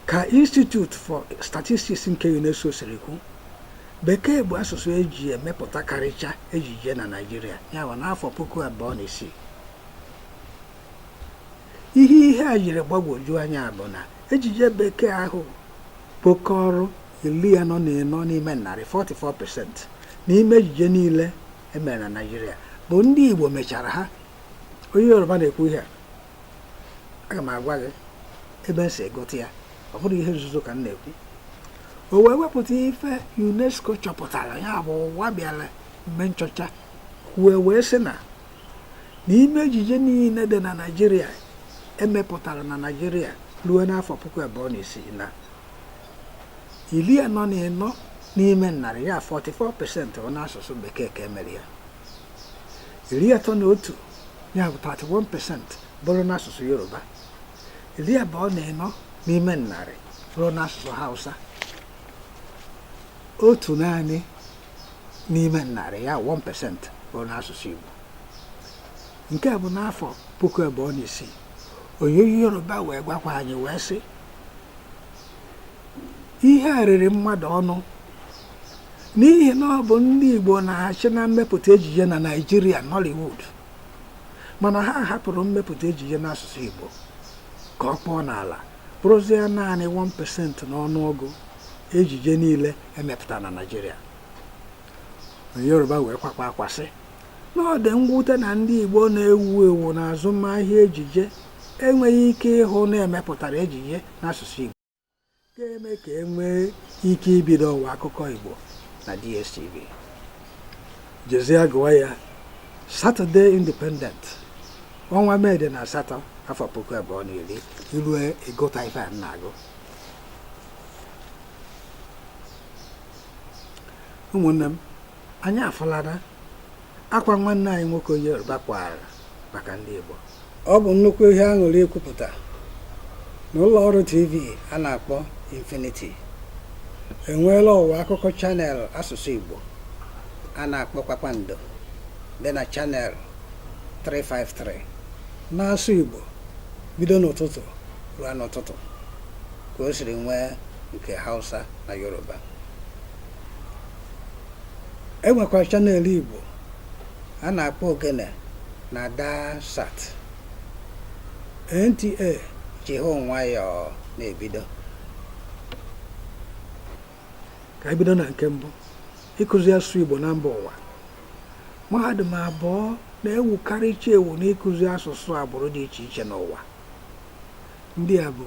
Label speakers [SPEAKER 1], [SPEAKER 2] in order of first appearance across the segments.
[SPEAKER 1] ka Institute for Statistics nke UNESCO siri kwu bekee bụ asụsụ eji emepụtakarịcha ejije na Naịjirịa ya bụ n'afọ puku abụọ na isii ihe ihe a jiri gbagwoju anya bụ na ejije bekee ahụ kpokọrọ iri anọ na ịnọ n'ime narị 44% n'ime ejije niile emere na naijiria bụ ndị igbo mechara ha onye yoruba na-ekwu ihe a aga m agwa gị ebe m si gụta ya ọ bụrọ ihe nzuzo ka m na-ekwu o wee wepụta ife unesco chọpụtara ya bụ ụwa bịara mee nchọcha wee sị na n'ime ejije niile dị na naijiria emepụtara na naijiria ruo n'afọ puku abụọ na isii na iri anọ na ịnọ n'ime narị ya 44 pasentị bụ n'asụsụ bekee ka emere ya iri atọ na otu ya bụ 31 pesent bụrụ n'asụsụ yoruba iri abụọ na ịnọ n'ime narị bụrụ n'asụsụ hausa otu naanị n'ime narị ya 1 pesent bụrụ n'asụsụ igbo nke bụ n'afọ puku abụọ na isii onye yoruba wee gwakwa anyị wee sị ihe a riri mmadụ ọnụ n'ihi na ọ bụ ndị Igbo na-achị na mmepụta ejije na Naịjirịa Nollywood mana ha hapụrụ mmepụta ejije n'asụsụ Igbo ka ọ kpọọ n'ala bụrụzie naanị 1% n'ọnụọgụ ejije niile emepụtara na Naịjirịa onye Yoruba wee kwakwa akwa sị na ọ dị mwute na ndị Igbo na-ewu ewu n'azụmahịa ejije enweghị ike ịhụ na emepụtara ejije n'asụsụ Igbo ga-eme ka e nwee ike ibido ọwa akụkọ Igbo na DSTV jezie gụwa ya Saturday Independent ọnwa Mee dị na asatọ afọ puku abụọ na iri i rue ị gụta ife m na-agụ ụmụnne m anyị afụlana akwa nwanne anyị nwoke onye Yoruba kwara maka ndị Igbo ọ bụ nnukwu ihe aṅụrị ikwupụta na ụlọ ọrụ TV a na-akpọ Infinity enweela ọwa akụkọ chanel asụsụ Igbo a na-akpọ kpakpando dị na chanel 353 na-asụ Igbo bido n'ụtụtụ ruo n'ụtụtụ ka o siri nwee nke Hausa na Yoruba e nwekwara channel Igbo a na-akpọ Ogene na Daarsat NTA ji ha nwayọọ na-ebido ka e bido na nke mbụ ịkụzi asụsụ Igbo na mba ụwa mahadum abụọ na-ewukarịcha ewu n'ịkụzi asụsụ agbụrụ dị iche iche n'ụwa ndị a bụ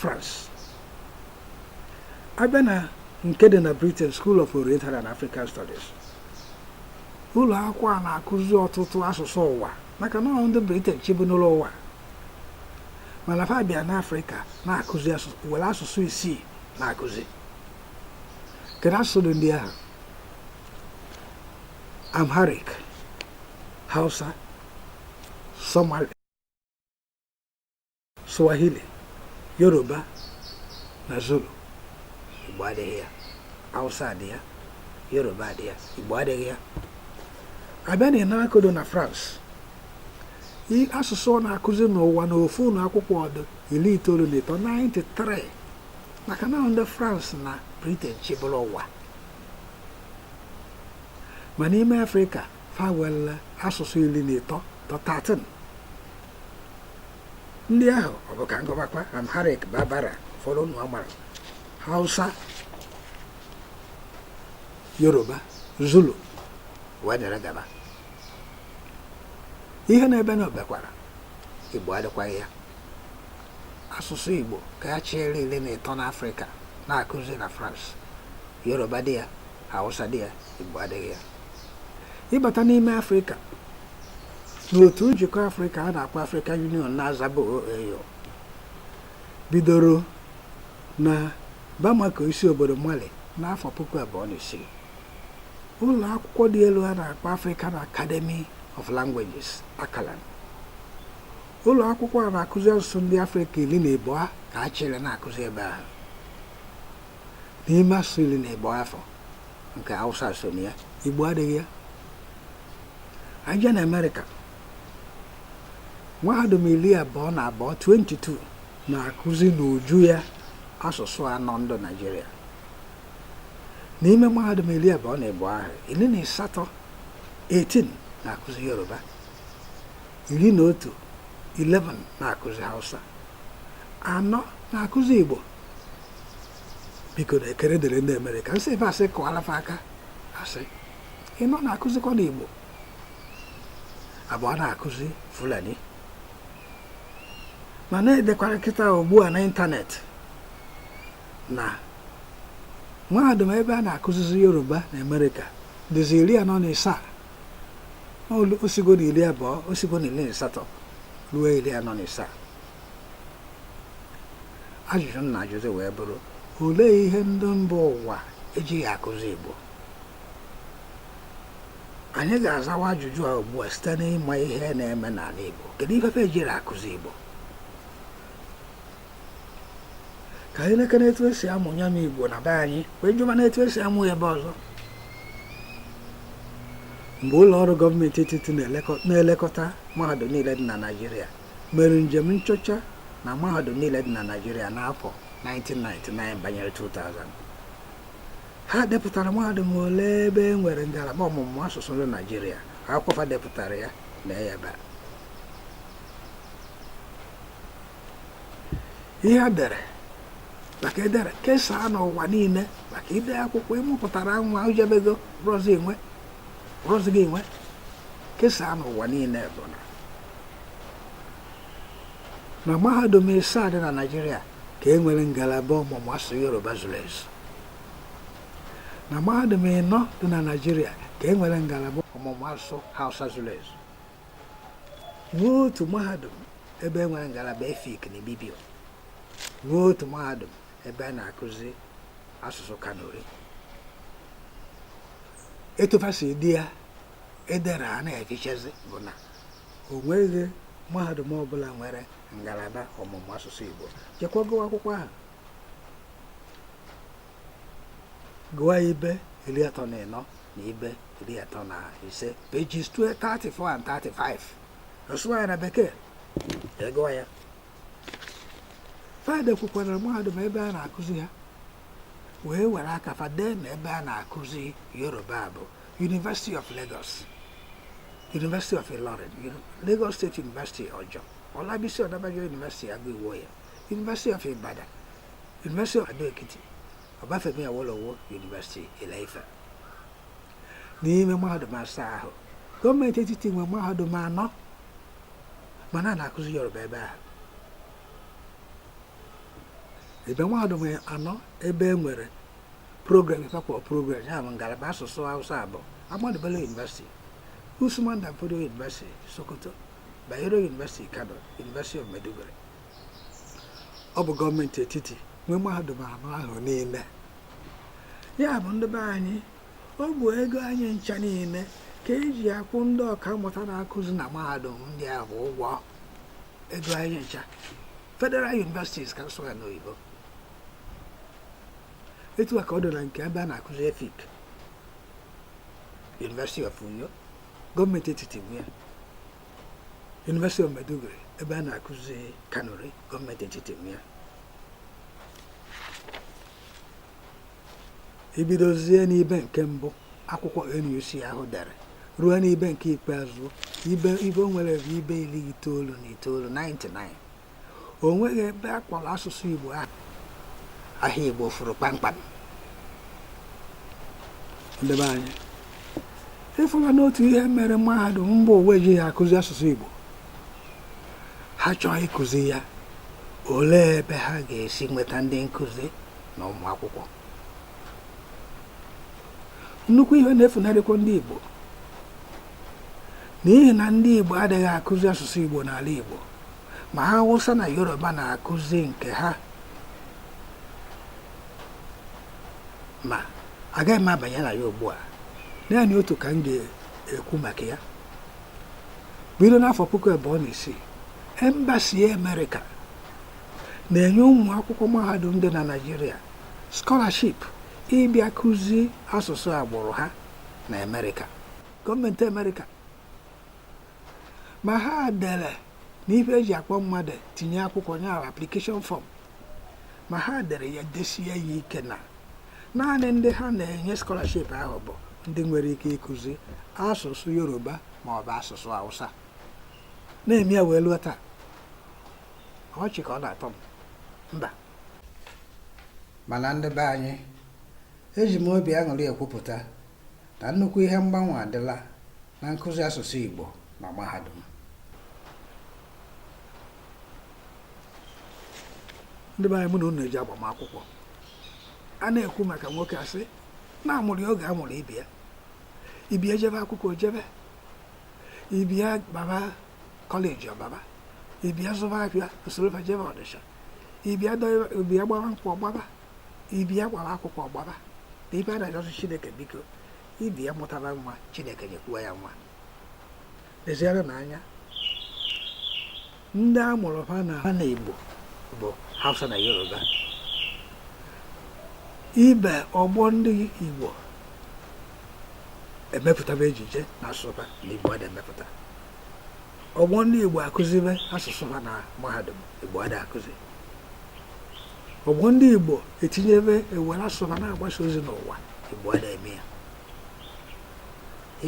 [SPEAKER 1] France a bịa na nke dị na Britain School of Oriental and African Studies ụlọ akwụkwọ a na-akụzi ọtụtụ asụsụ ụwa maka na ndị Britain chịbulu ụwa mana fa bịa n'Afrịka na-akụzi were asụsụ isii na-akụzi kedu asụsụ dị ndị ahụ Amharic Hausa Somali Swahili, Yoruba na Zulu. Igbo adịghị ya. Hausa dị ya. Yoruba dị ya. Igbo adịghị ya. A bịa na INALCO dị na France. Asụsụ ọ na-akụzi n'ụwa na ofu ụlọ akwụkwọ ọ dụ iri itoolu na ịtọ 93 maka na ndị France na Britain chịburu ụwa ma n'ime afrịka fa were asụsụ iri na ịtọ to 13 ndị ahụ ọ bụ ka m gụbakwa amharic bambara ụfọdụ ụnụ amara hausa yoruba zulu wee dere gaba ihe na-ebe na obekwara igbo adịkwaghị ya asụsụ igbo ka a chịrị iri na ịtọ n'afrịka na-akụzi na france yoruba dị ya hausa dị ya igbo adịghị ya ị bata n'ime afrịka n'otu njikọ afrịka a na-akpọ african union na-azabu OAU bidoro na bamako isi obodo mali n'afọ puku abụọ na isii ụlọ akwụkwọ dị elu a na-akpọ african academy of languages ACALAN ụlọ akwụkwọ a na-akụzi asụsụ ndị afrịka iri na ịbụa ka a chịrị na-akụzi ebe ahụ n'ime asụsụ iri na ịbụa afụ nke Hausa so na ya Igbo adịghị ya e jee na Amerịka mahadum iri abụọ na abụọ 22 na-akụzi n'uju ya asụsụ anọ ndị Naịjirịa n'ime mahadum iri abụọ na ịbụọ ahụ iri na asatọ 18 na-akụzi Yoruba iri na otu 11 na-akụzi Hausa anọ na-akụzi Igbo biko na ekere dịrị ndị Amerịka nsị ebe a sị kụọla fa aka a sị ịnọ na-akụzikwanụ Igbo abụọ na-akụzi Fulani mana e dekwara kịta ugbu a n'ịntanetị na mahadum ebe a na-akụzizi Yoruba na Amerịka dịzi iri anọ na isaa o sigo na iri abụọ o sigo na iri na ịsatọ ruo iri anọ na isaa ajụjụ m na-ajụzi wee bụrụ olee ihe ndị mba ụwa ejighi akụzi Igbo anyị ga-azawa ajụjụ a ugbu a site n'ịma ihe na-eme n'ala Igbo kedu ife ejiri akụzi Igbo ka anyị lekene etu esi amụ ya bụ Igbo na be anyị wee jụba n'etu esi amụ ebe ọzọ mgbe ụlọ ọrụ gọọmenti etiti na-elekọta mahadum niile dị na Naịjirịa mere njem nchọcha na mahadum niile dị na Naịjirịa n'afọ 1999 banyere 2000 ha depụtara mahadum ole ebe e nwere ngalaba ọmụmụ asụsụ ndị Naịjirịa akwụkwọ ha depụtara ya na ya ebe a ihe a dere maka edere kesaa n'ụwa niile maka ide akwụkwọ ị mụpụtara nwa o jebego ọrọzi gị nwe kesaa n'ụwa niile bụ na na mahadum isaa dị na Naịjirịa ka e nwere ngalaba ọmụmụ asụsụ Yoruba zuru ezu na mahadum ịnọ dị na Naịjirịa ka e nwere ngalaba ọmụmụ asụsụ Hausa zuru ezu nwee otu mahadum ebe e nwere ngalaba Efik na Ibibio nwee otu mahadum ebe a na-akụzi asụsụ Kanuri etu fa si dị ya edere a na-efichazị bụ na o nweghị mahadum ọbụla nwere ngalaba ọmụmụ asụsụ Igbo jekwa gụwa akwụkwọ ahụ gụwa ibe iri atọ na ịnọ na ibe iri atọ na ise pages 34 and 35 a sụwa ya na bekee egụwa ya fa dekwukwara mahadum ebe a na-akụzi ha wee were aka fa dee na ebe a na-akụzi yoruba bụ University of Lagos, University of Ilorin, Lagos State University Ojo, Olabisi Onabanjo University Ago-Iwoye, University of Ibadan, University of Ado-Ekiti, Obafemi Awolowo University Ile-Ife. N'ime mahadum asaa ahụ, gọọmenti etiti nwe mahadum anọ mana a na-akụzi Yoruba ebe ahụ. Ebe mahadum anọ ebe e nwere program ife a kpọrọ program ya bụ ngalaba asụsụ Hausa bụ Ahmadu Bello University Usman Dan Fodio University Sokoto Bayero University Kano University of Maiduguri ọ bụ gọọmenti etiti nwe mahadum anọ ahụ niile ya bụ ndị be anyị ọ bụ ego anyị ncha niile ka eji akwụ ndị ọka mmụta na-akụzi na mahadum ndị ahụ ụgwọ ego anyị ncha Federal Universities ka m sụọ ya n'oyibo etu a ka ọ dị na nke ebe a na-akụzi efik University of Uyo gọọmenti etiti nwe ya University of Maiduguri ebe a na-akụzi kanuri gọọmenti etiti nwe ya i bidozie n'ibe nke mbụ akwụkwọ NUC ahụ dere ruo n'ibe nke ikpeazụ ibe o nwere bụ ibe iri itoolu na itoolu 99 o nweghị ebe a kpọrọ asụsụ Igbo aha Igbo furu kpamkpam ndị be anyị ị fụla n'otu ihe mere mahadum mba ụwa ejighị akụzi asụsụ Igbo ha chọọ ịkụzi ya olee ebe ha ga-esi nweta ndị nkụzi na ụmụ akwụkwọ nnukwu ihe na-efunarịkwa ndị Igbo n'ihi na ndị Igbo adịghị akụzi asụsụ Igbo n'ala Igbo ma Hausa na Yoruba na-akụzi nke ha ma agaghị m abanye na ya ugbu a naanị otu ka m ga-ekwu maka ya bido n'afọ puku abụọ na isii embasi Amerịka na-enye ụmụ akwụkwọ mahadum dị na Naịjirịa skọlaship ịbịa kụzi asụsụ agbụrụ ha na Amerịka gọọmenti Amerịka ma ha dere na ife eji akpọ mmadụ tinye akwụkwọ nye ahụ application form ma ha dere ya desie ya ike na naanị ndị ha na-enye scholarship ahụ bụ ndị nwere ike ịkụzi asụsụ yoruba ma ọ bụ asụsụ hausa na-eme ya wee luo taa ọchị ka ọ na-atọ m mba mana ndị be anyị eji m obi aṅụrị ekwupụta na nnukwu ihe mgbanwe adịla na nkụzi asụsụ Igbo na mahadum ndị be anyị mụ na unu eji agbamakwụkwọ a na-ekwu maka nwoke a sị na a mụrụ ya oge a mụrụ ibe ya ibe ya jebe akwụkwọ o jebe ibe ya baba kọleji ọ baba ibe ya zụba afịa o soro fa jebe Ọnịsha ibe ya gbaba nkwụ ọ gbaba ibe ya gbaba akwụkwọ ọ gbaba na ibe ya na-ayọsị chineke biko ibe ya mụtara nwa chineke nyekwuo ya nwa leziere na anya ndị a mụrụ ha na igbo bụ hausa na yoruba ibe ọgbọ ndị igbo emepụtaba ejije na asụsụ ha na igbo ada emepụta ọgbọ ndị Igbo akụzibe asụsụ ha na mahadum Igbo ada akụzi ọgbọ ndị Igbo etinyebe ewere asụsụ ha na-agbasa ozi n'ụwa Igbo ada eme ya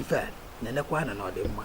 [SPEAKER 1] ife na-enekwa anya na ọ dị mma